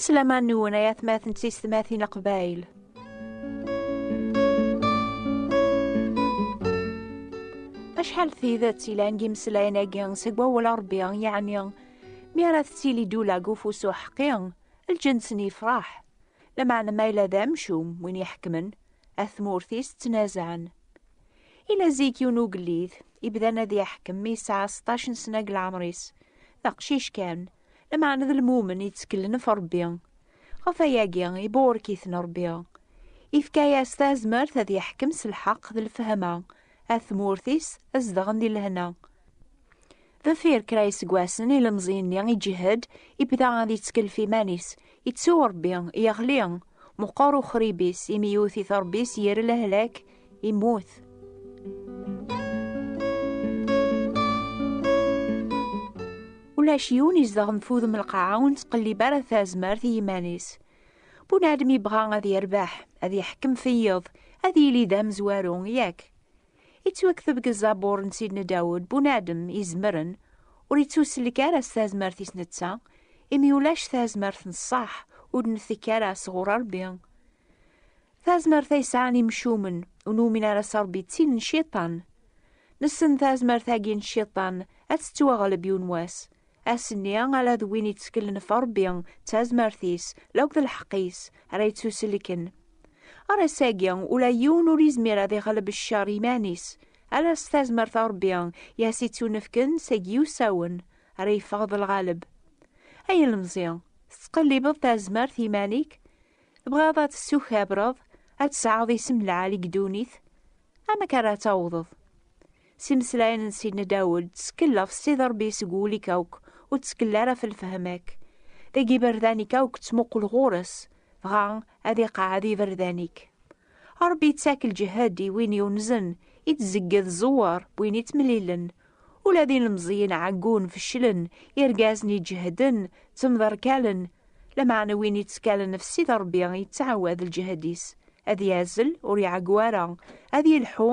Aslaman nwen ay atmaten d tistmatin aqbayl. Acḥal tidet ilan gimeslayen-agi seg wawal Ṛebbi yeɛni mi ara tettili dula deg ufus uḥeqqi, lǧens-nni yefṛeḥ. Lameɛna ma yella d amcum win iḥekmen, at tmurt-is ttnazaɛen. Ila zik yiwen ugellid, ibdan ad iḥkem mi yesɛa seṭṭac n sna deg leɛmer-is, d aqcic kan, lameɛna d lmumen yetteklen ɣef Rebbi. Ɣef wayagi, ibuṛek-iten Rebbi. Ifka-yas tazmert ad iḥkem s lḥeqq d lefhama, at tmurt-is ad zedɣen di lehna. Deffir kra iseggasen, ilemẓi-nni iǧhed, ibda ad ittkelf iman-is, ittu Rebbi, yeɣli, meqqer uxrib-is, imi yewwet-it Rebbi s yir lehlak, immut. ulac yiwen izedɣen f udem lqaɛa ur nettqellib ara tazmert i yiman-is. Bunadem yebɣa ad yerbeḥ, ad yeḥkem feyyeḍ, ad yili d amezwaru, yak. Ittwakteb deg ẓabur n Sidna Dawed, bunadem izemren, ur ittusellek ara s tazmert-is netta, imi ulac tazmert n ṣṣaḥ ur d-ntekk ara sɣur Rebbi. Tazmert ay sɛan imcumen ur numin ara s Rebbi d tin n cciṭan. Nessen tazmert-agi n cciṭan ad tettwaɣleb yiwen wass, Ass-nni, ala d win itteklen ɣef Ṛebbi d tazmert-is, law d lḥeqq-is, ara yettuselken. Ɣer ass-agi, ula yiwen ur yezmir ad iɣleb cceṛ i yiman-is, ala s tazmert n Ṛebbi i as-ittunefken seg yiwsawen, ara yeffeɣ d lɣaleb. Ay ilemẓi, tettqellibeḍ tazmert i yiman-ik? Tebɣiḍ ad tessukabreḍ, ad tesɛeḍ isem lɛali deg ddunit? Amek ara tawḍeḍ? s imeslayen n Sidna Dawed, ttkel ɣef Ssid Ṛebbi seg wul-ik akk, ur ttkel ara ɣef lefhem-ik. Deg iberdan-ik akk ttmuqul ɣur-s, dɣa ad iqeɛɛed iberdan-ik. Ṛebbi ittak lǧehd i win yunzen, ittzegged ẓẓewwer n win ittmelilen. Ula d ilemẓiyen ɛeggun, feclen, irgazen iǧehden, ttemderkalen, lameɛna win yettkalen ɣef Ssid Ṛebbi yettɛawad lǧehd-is, ad yazzel, ur iɛeggu ara, ad yelḥu,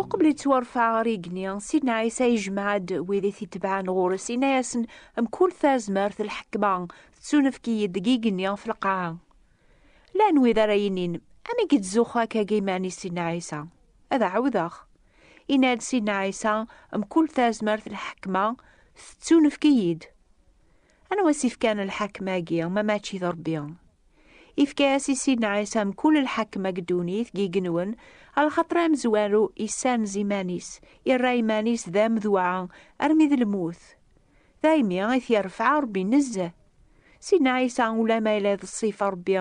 Uqbel yettwarfa ɣer igenni, Sidna Ɛisa yejmeɛ-d wid i t-itebɛen ɣur-s, yenna-yasen, Mkul tazmert n lḥekma tettunefk-iyi-d deg igenni ɣef lqaɛa. Llan wid ara yinin, Amek yettzuxxu akka deg yiman-is Sidna Ɛisa? Ad ɛawdeɣ. Yenna-d Sidna Ɛisa, Mkul tazmert n lḥekma tettunefk-iyi-d. Anwa i s-ifkan lḥakem-agi, ma mačči d Ṛebbi? Ifka-as i Sidna Ɛisa mkul lḥakem deg ddunit, deg igenwen, ɣer lxaṭer amezwaru issanez iman-is, irra iman-is d amedwaɛ armi d lmut. Daymi i t-irfeɛ Ṛebbi nezzeh. Sidna Ɛisa, ula ma yella d ṣṣifa Ṛebbi,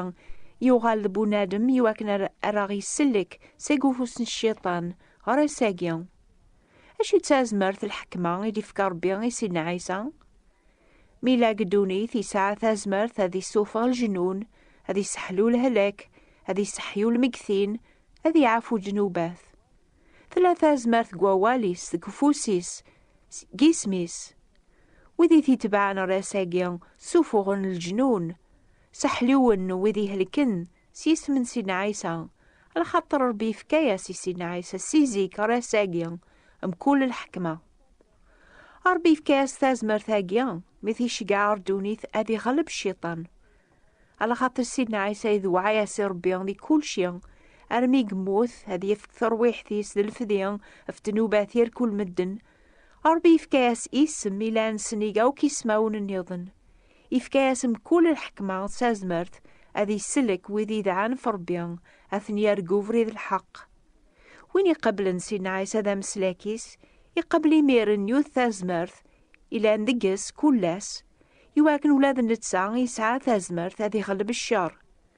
yuɣal d bunadem iwakken ar aɣ-isellek seg ufus n Cciṭan, ɣer ass-agi. Acu d tazmert, lḥekma, i d-ifka Rebbi i Sidna Ɛisa? Mi yella deg ddunit, yesɛa tazmert ad issuffeɣ lejnun, ad isseḥlu lehlak, ad isseḥyu lmeggtin, ad iɛafu ddnubat. Tella tazmert deg wawal-is, deg ufus-is, deg isem-is. Wid i t-itebɛen ɣer ass-agi, ssuffuɣen leǧnun, sseḥlun wid ihelken, S yisem n Sidna Ɛisa, lxaṭer Ṛebbi yefka-yas i Sidna Ɛisa si zik ɣer ass-agi mkul lḥekma. Ṛebbi yefka-yas tazmert-agi mi t-iceggeɛ ɣer ddunit ad iɣleb Cciṭan. Lxaṭer Sidna Ɛisa idewɛa-yas i Ṛebbi di kulci, armi i yemmut ad yefk terwiḥt-is d lefdi ɣef ddnubat yal kul medden. Ṛebbi yefka-yas isem i llan sennig akk ismawen nniḍen. Ifka-as mkul lḥekma d tazmert ad isellek wid yedɛan ɣef Ṛebbi, ad ten-yerr deg ubrid n lḥeqq. Win iqablen Sidna Ɛisa d ameslak-is, iqabel imir n yut tazmert ilan deg-s kul ass, iwakken ula d netta yesɛa tazmert ad iɣleb cceṛ.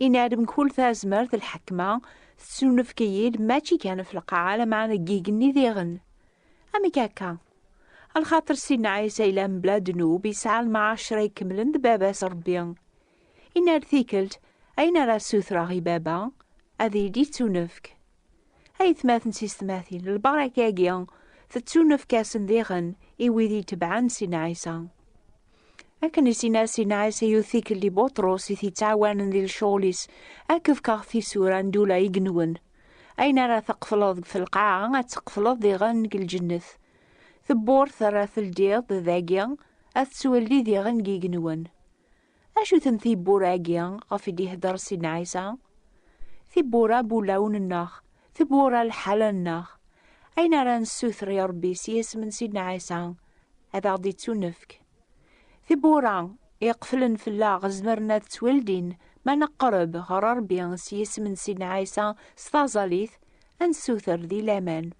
Yenna-d mkul tazmert lḥekma tettunefk-iyi-d mačči kan ɣef lqaɛa lameɛna deg yigenni diɣen. Amek akka? Lxaṭer Sidna Ɛisa yella mebla ddnub, yesɛa lmɛacra ikemlen d Baba-s Ṛebbi. Yenna-d tikkelt, Ayen ara ssutreɣ i Baba, ad iyi-d-yettunefk. Aytmaten s istmatin, lbaraka-agi tettunefk-asen diɣen i wid itebɛen sin Ɛisa. Akken i sin asin Ɛisa yiwet tikkelt i Buṭrus i t-yettɛawanen di lecɣal-is, ad k-fkeɣ tisura n ddula i yenwen. Ayen ara teqtleḍ deg telqaɛa, ad teqtleḍ diɣen deg lǧennet. Tewwurt ara teldiḍ dagi, ad tettweldi diɣen deg yigenwen. Acu-ten tiwwura-agi ɣef i d-ihedder Sidna Ɛisa? Tiwwura bulaw-nneɣ, tiwwura lḥala-nneɣ. Ayen ara nessuter i Ṛebbi s yisem n Sidna Ɛisa ad aɣ-d-ittunefk. Tiwwura iqeflen fell-aɣ zemren ad ttwaldin ma neqreb ɣer Ṛebbi s yisem n Sidna Ɛisa s taẓallit, ad nessuter di laman.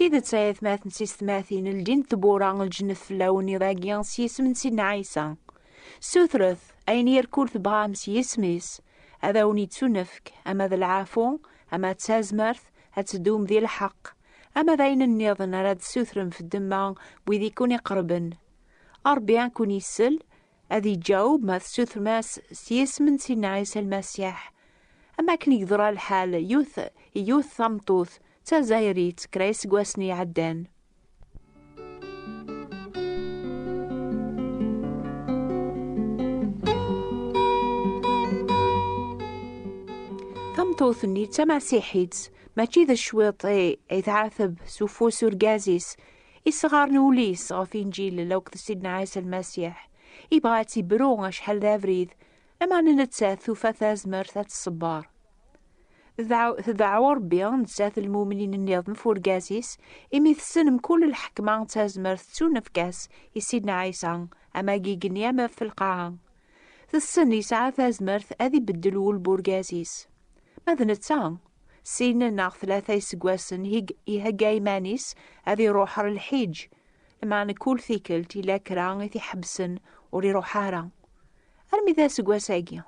tidet ay atmaten s istmatin ldint tbura lǧennet fell-awen iḍ-agi s yisem n Sidna Ɛisa. Sutret ayen yerkul tebɣam s yisem-is ad awen-yettunefk ama d lɛafu ama d tazmert ad teddum di lḥeqq Ama d ayen nniḍen ara d-sutrem f ddemma n wid i kun-iqerben, Ṛebbi ad kun-isel, ad iǧaweb ma tsutrem-as s yisem n Sidna Ɛisa Lmasiḥ. Am wakken i yeḍra lḥal yiwet i yiwet tameṭṭut d Tazzayrit kra iseggasen i iɛeddan. tameṭṭut-nni d tamasiḥit mačči d cwiṭ ay tɛateb s ufus urgaz-is isɣaren ul-is ɣef injil law d sidna ɛisa lmasiḥ ibɣa ad tibru acḥal d abrid ama nettat tufa tazmert ad tṣebber Tdeɛɛu Ṛebbi nettat lmumnin nniḍen f urgaz-is, imi tessen mkul lḥekma d tazmert ttunefk-as i Sidna Ɛisa, am agi igenni am f lqaɛa. Tessen yesɛa tazmert ad ibeddel wul n urgaz-is. Ma d netta, sin neɣ tlata iseggasen ihegga iman-is ad iṛuḥ ɣer lḥiǧ, lmeɛna kul tikkelt yella kra i t-iḥebbsen ur iṛuḥ ara. Armi d aseggas-agi.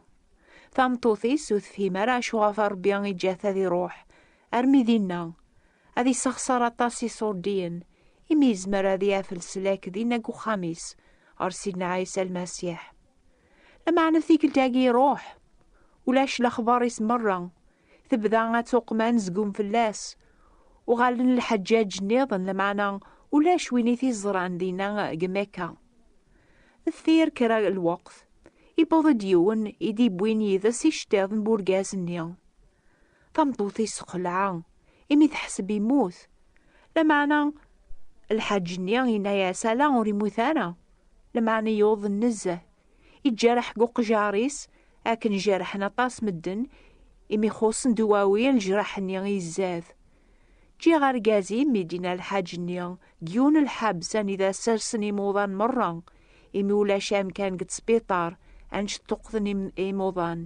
Tameṭṭut-is ur tefhim ara acuɣef Ṛebbi iǧǧa-t ad iṛuḥ armi dinna. Ad isexṣer aṭas iṣurdiyen imi yezmer ad yaf leslak dinna deg uxxam-is ɣer Sidna Ɛisa Lmasiḥ. Lameɛna tikkelt-agi iṛuḥ. Ulac lexbaṛ-is meṛṛa tebda ad tuqem anezgum fell-as. Uɣalen lḥeǧǧaǧ nniḍen, lameɛna ulac win i t-iẓran dinna deg Mekka. Deffir kra n lweqt, yewweḍ-d yiwen i d-yewwin yid-s iceṭṭiḍen n urgaz-nni. Tameṭṭut-is texleɛ, imi teḥseb yemmut. Lameɛna lḥaǧ-nni yenna-as ala ur yemmut ara, lameɛna yuḍen nezzeh, iǧerreḥ deg uqjar-is akken jerrḥen aṭas medden imi xuṣṣen duwawi lejraḥ-nni i izzad. Ǧǧiɣ argaz-im mi d-yenna lḥaǧ-nni deg yiwen n lḥebs anida sersen imuḍan merra imi ulac amkan deg ttbiṭar annect ṭṭuqten imuḍan.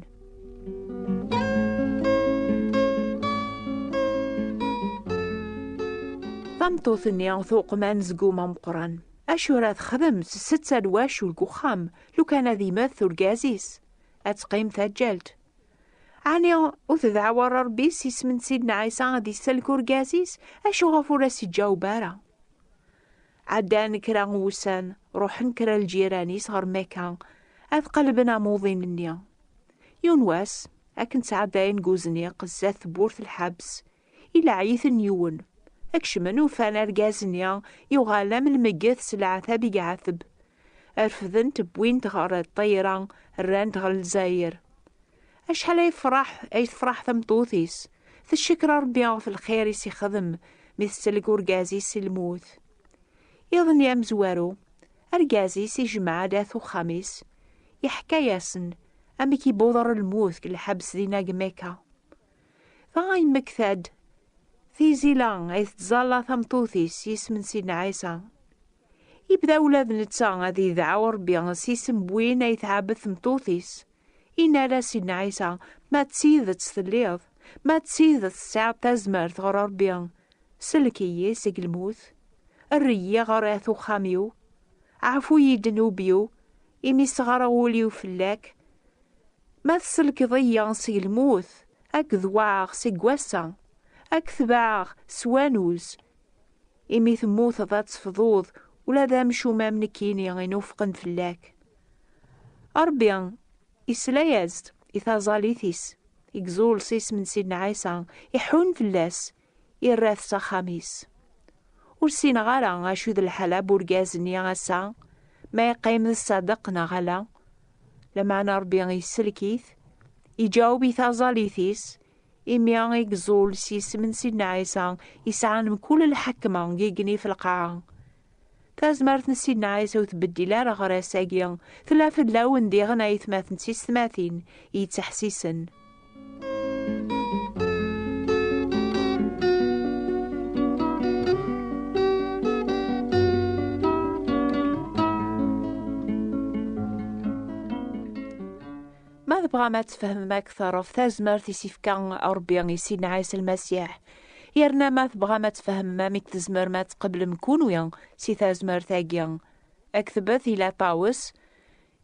Tameṭṭut-nni tuqem anezgum ameqqran. Acu ara texdem tsetta n wacul deg uxxam lukan ad imet urgaz-is? Ad teqqim taǧǧalt. Ɛni ur tedɛaw ara Rebbi s isem n Sidna Ɛisa ad isellek urgaz-is? Acu ɣef ur as-iǧaweb ara? Ɛeddan kra n wussan, ruḥen kra n ljiran-is ɣer Mekka ad qellben amuḍin-nni. Yiwen wass, akken ttɛeddayen deg uzniq sdat tewwurt lḥebs, Ilaɛi-ten yiwen. Kecmen ufan argaz-nni yuɣal am lmegget s leɛtab i iɛetb. Refden-t wwin-t ɣer ṭṭayra rran-t ɣer Lezzayer. Acḥal ay yefreḥ ay tefreḥ tameṭṭut-is, teccekker Rebbi ɣef lxir i s-ixdem mi tettelg urgaz-is si lmut. Iḍ-nni amezwaru, argaz-is ijemmeɛ-d at uxxam-is, yeḥka-asen amek i buḍer lmut deg lḥebs dinna deg Mekka. Taɣ ay yemmekta-d tizila ay tettẓalla tameṭṭut-is s yisem n Sidna Ɛisa. Yebda ula d netta ad yedɛu Rebbi s yisem n win ay tɛebbed tmeṭṭut-is. Yenna-as Sidna Ɛisa, Ma d tidet telliḍ, ma d tidet tesɛiḍ tazmert ɣer Rebbi, sellek-iyi seg lmut, err-iyi ɣer at uxxam-iw, ɛfu-iyi-d nnub-iw, Imi sɣareɣ ul-iw fell-ak, ma tselkeḍ-iyi seg lmut, ad k-dewɛeɣ seg wass-a, ad k-tebɛeɣ s wanuz. Imi temmuteḍ ad tefḍuḍ ula d amcum am nekkini inufqen fell-ak. Ṛebbi isla-yas-d i taẓallit-is, igzull s isem n Sidna Ɛisa, iḥunn fell-as, irra-t s axxam-is. Ur ssineɣ ara acu d lḥala n urgaz-nni ass-a, ma yeqqim d ṣṣadeq neɣ ala. Lameɛna Ṛebbi isellek-it, iǧaweb i taẓallit-is, imi i yeẓẓul s yisem n Sidna Ɛisa, yesɛan mkul lḥekma i igenni f lqaɛa, Tazmert n Sidna Ɛisa ur tbeddil ara aɣras-agi. Tella fell-awen diɣen ayetmaten d tisetmatin yettḥessisen. Ma tebɣam ad tfehmem akteṛ ɣef tazmert i s-ifka Ṛebbi i Sidna Ɛisa Lmasiḥ, Yerna ma tebɣam ad tfehmem amek tzemrem ad tqeblem kunwi si tazmert-agi, ktbet i Latawes,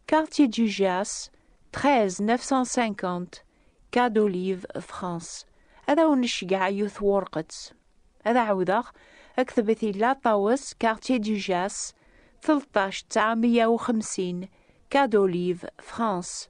Quartier du Gers, 13 950 Quai d'Olive, France, ad awen-ceggɛeɣ yiwet twurqet. Ad ɛawdeɣ, ktbet i Latawes, Quartier du Gers, 13 950 Quai d'Olive, France,